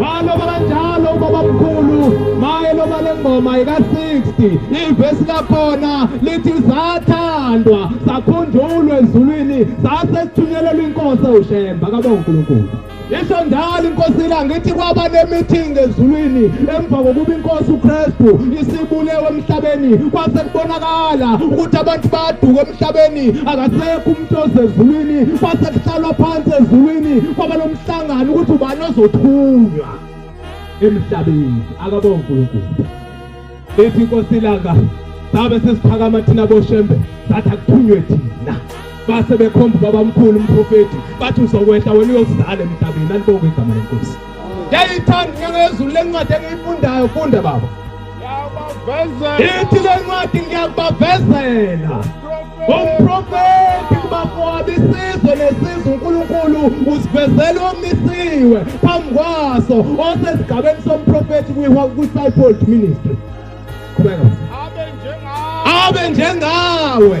waloba kanjalo ubabamkhulu maye loba le ngoma yika-60 ivesi lakhona lithi zathandwa sakhunjulwa ezulwini sase sithunyelelwa inkosi ewushemba kabonga unkulunkulu yisho njalo inkosi ilanga ithi kwaba ne-meeting ezulwini emva kokuba inkosi ukristu isibulewe emhlabeni kwase kubonakala ukuthi abantu bayaduka emhlabeni akasekho umuntu ozezulwini kwase kuhlalwa phansi ezulwini kwaba Hlangana ukuthi ubani ozothunywa emhlabeni akabonga uNkulunkulu. Ethi inkosi ilanga sabe sesiphakama thina boshembe sathi akuthunywe thina base bekhomba babamkhulu umprofeti bathi uzokwehla wena uyokuzala emhlabeni alibonge igama lenkosi yayithanda inyanga yezulu lencwadi engiyifundayo funda baba ithi le ncwadi ngiyakubavezela umprofethi kubamowabi isizwe nesizwe unkulunkulu usivezela omisiwe phambi kwaso osesigabeni somprofethi kwi-cypold ministry qhubeka abe njengawe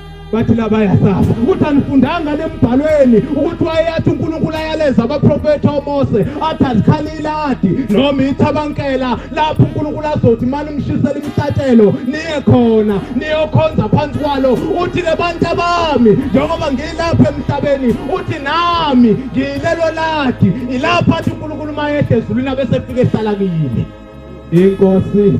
bathi la bayasafa ukuthi anifundanga nembhalweni ukuthi wayeyathi uNkulunkulu ayaleza abaprofethi oMose athi azikhalila adi noma ithi abankela lapho uNkulunkulu azothi mani ngishisela imihlatshelo niye khona niyokhonza phansi kwalo uthi ke bantu abami njengoba ngilapha emhlabeni uthi nami ngilelo ladi ilapha athi uNkulunkulu mayehla ezulwini abese fike ehlala kimi inkosi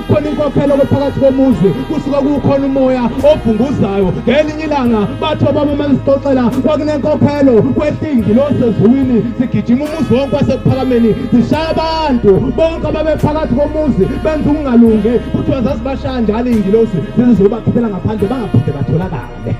khona inkokhelo phakathi komuzi kusuke kukhona umoya obhunguzayo ngelinye ilanga bathi obaba uma ngisixoxela kwakunenkokhelo kwehlingi losezulwini sigijima umuzi wonke wasekuphakameni zishaya abantu bonke ababephakathi komuzi benza ukungalungi kuthiwa zazibashaya njalo iy'ngilosi zize ziyobakhiphela ngaphandle bangaphinde batholakale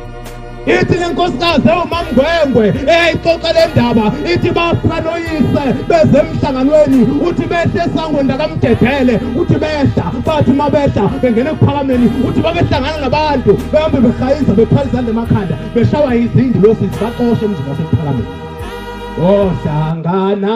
ithi le nkosikazi ewumamngwengwe eyayixoxa le ndaba ithi bafika noyise beze emhlanganweni uthi behle esangweni lakamdedele uthi behla bathi uma behla bengena ekuphakameni uthi babehlangana nabantu behambe behayiza bethwala izandla emakhanda beshawa izindi losisi baxoshe emzini wasekuphakameni ohlangana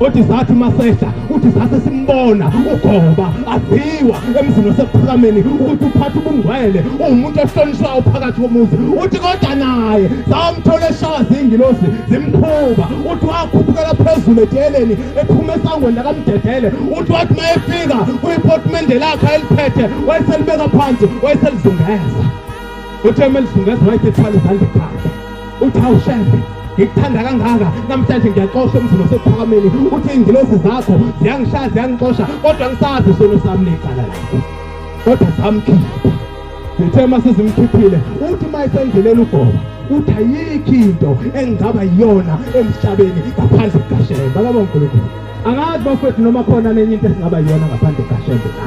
uthi sathi masehla uthi sase simbona ugoba aziwa emzini osephakameni ukuthi uphatha ubungcwele uwumuntu ohlonishwayo phakathi komuzi uthi kodwa naye samthola eshawa zingilosi zimkhuba uthi wakhuphukela phezulu edeleni ephuma esangweni lakamdedele uthi wathi uma efika kuyipotimende lakhe eliphethe wayeselibeka phansi wayeselizungeza uthe uma elizungeza wayethethwala izandla ekhanda uthi hawu shefe ngikuthanda kangaka namhlanje ngiyaxosha emzini osephakameni uthi iy'ngilosi zakho ziyangishaya ziyangixosha kodwa ngisazi isono sami necala lakho kodwa samkhipha ngithe uma sizimkhiphile uthi uma esendleleni ugoba uthi ayikho into engingaba yiyona emhlabeni ngaphandle kukashembe akaba unkulunkulu angazi bafowethu noma khona nenye into esingaba yiyona ngaphandle kukashembe na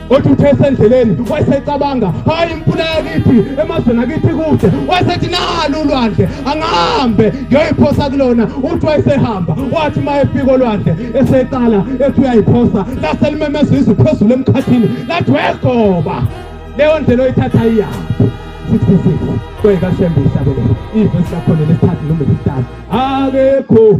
othi uthe esendleleni wayesecabanga hayi imfula yakithi emazweni akithi kude wayesethi nalo ulwandle angahambe ngiyoyiphosa kulona uthi wayesehamba wathi uma efika olwandle eseqala ethi uyayiphosa lase limemeza izwi phezulu emkhathini lathi wegoba leyo ndlela oyithatha iyaphi 66 kweyikashembe ihlabelele ivesi lakhona lesithathu noma lesithathu akekho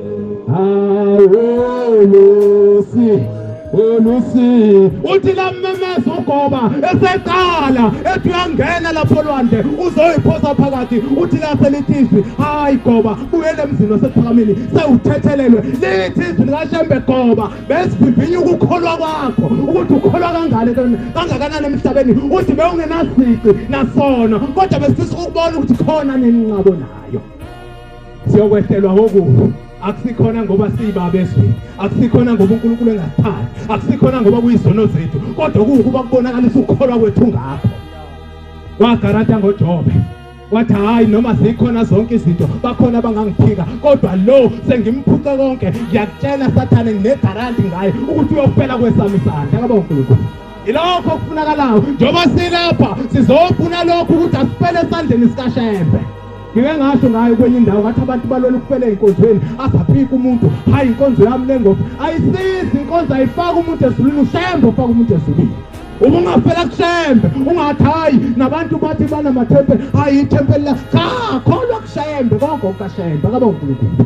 uthi lammemeza ugoba eseqala ethi uyangena lapho lwandle uzoyiphosa phakathi uthi lapho elithizwi hayi goba buyele emzini wasephakamini sewuthethelelwe lithizwi likashembe goba besivivinya ukukholwa kwakho ukuthi ukholwa kangane kangakanani emhlabeni uthi bewungenasici nasono kodwa besifisa ukubona ukuthi khona nini nqabo nayo siyokwehlelwa ngokufa akusikhona ngoba siyibabe ezweni akusikhona ngoba unkulunkulu engasithandi akusikhona ngoba kuyizono zethu kodwa kuwukuba kubonakalisa ukukholwa kwethu ngakho wagarata ngojobe wathi hhayi noma zikhona zonke izinto bakhona abangangiphika kodwa lo sengimphuce konke ngiyakutshela sathane nginegaranti ngaye ukuthi uyofela kwesami isandla kaba unkulunkulu ilokho okufunakalayo njengoba silapha sizofuna lokhu ukuthi asifele esandleni sikashembe ngike ngasho ngayo kwenye indawo ngathi abantu balwela ukufela ey'nkonzweni azaphika umuntu hhayi inkonzo yami le ngoba ayisizi inkonzo ayifaki umuntu ezulwini ushembe ofaka umuntu ezulwini uma ungafela kushembe ungathi hhayi nabantu bathi banamathempeli hhayi ithempeli la cha kholwa kushembe konke okukashembe akaba unkulunkulu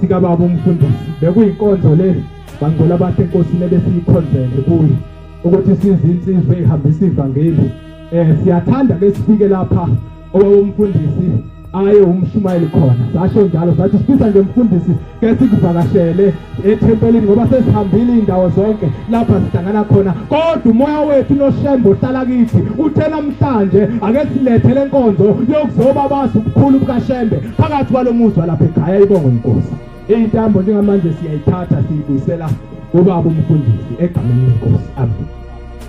sikababa umfundisi bekuyinkonzo le bangcola bathi inkosi lebe siyikhonzele kuyo ukuthi size insizwe ihambisa ivangeli eh siyathanda ke sifike lapha owawumfundisi aye umshumayeli khona sasho njalo sathi sifisa nje mfundisi ke sikuvakashele ethempelini ngoba sesihambile indawo zonke lapha sihlangana khona kodwa umoya wethu noshembe uhlala kithi uthe namhlanje ake silethe lenkonzo yokuzoba bazi ubukhulu bukashembe phakathi kwalo muzwa lapha ekhaya ibongo inkosi iyintambo njengamanje siyayithatha siyibuyisela kubaba umfundisi egameni lenkosi amen